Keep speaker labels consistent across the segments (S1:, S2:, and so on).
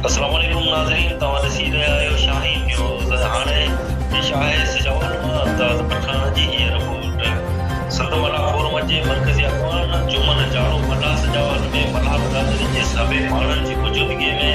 S1: السلام عليڪم ناظرين توهان ڏسي رهيا آهيو شاهين نيوز هاڻي پيش آهي سجاول مان داد پٺاڻ جي هيء رپورٽ سنڌ ملاح فورم جي مرڪزي اڳواڻ جمن جاڙو ملاح سجاول ۾ ملاح برادري جي سڀيئي ماڻهن جي موجودگي ۾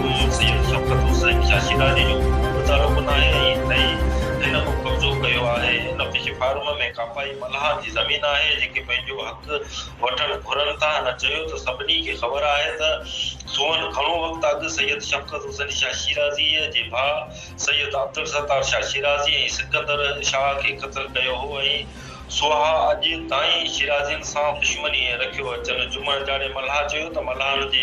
S1: ملڪ سيد شوڪت حسين شاشيداري جو متعلق ناهي ۽ هن به قبضو ڪيو آهي هن فش فارم ۾ ڪاپائي ملاحن جي زمين آهي جيڪي پنهنجو حق وٺڻ گهرن ٿا هن چيو ته سڀني کي خبر آهي ته سونهن گهڻو وقت اڳ سيد شوڪت حسين شاشيرازي جي ڀاء سيد عبدالستار شاشيرازي ۽ سڪندر شاهه کي قتل ڪيو هو ۽ سونها اڄ تائين شيرازين سان دشمني رکيو اچن جمعڙ جاڙي ملاح چيو ته ملاحن جي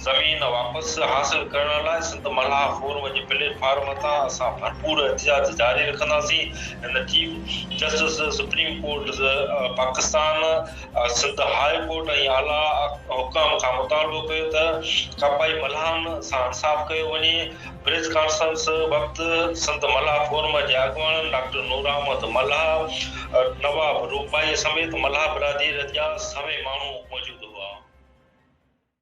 S1: زمين واپس حاصل ڪرڻ لاء سنڌ ملاح فورم جي پليٽ فارم تان اسان ڀرپور احتجاج جاري رکنداسين ۽ chief justice supreme court Pakistan, Sindh high court ۽ اعليٰ حڪام کان مطالبو ڪيو ته ڪاپائي ملاحن سان انصاف ڪيو وڃي. پريس ڪانفرنس وقت سنڌ ملاح فورم جي اڳواڻن ڊاڪٽر نور احمد ملاح، نواب روپائي سميت ملاح برادري جا سوين ماڻهو موجود هئا.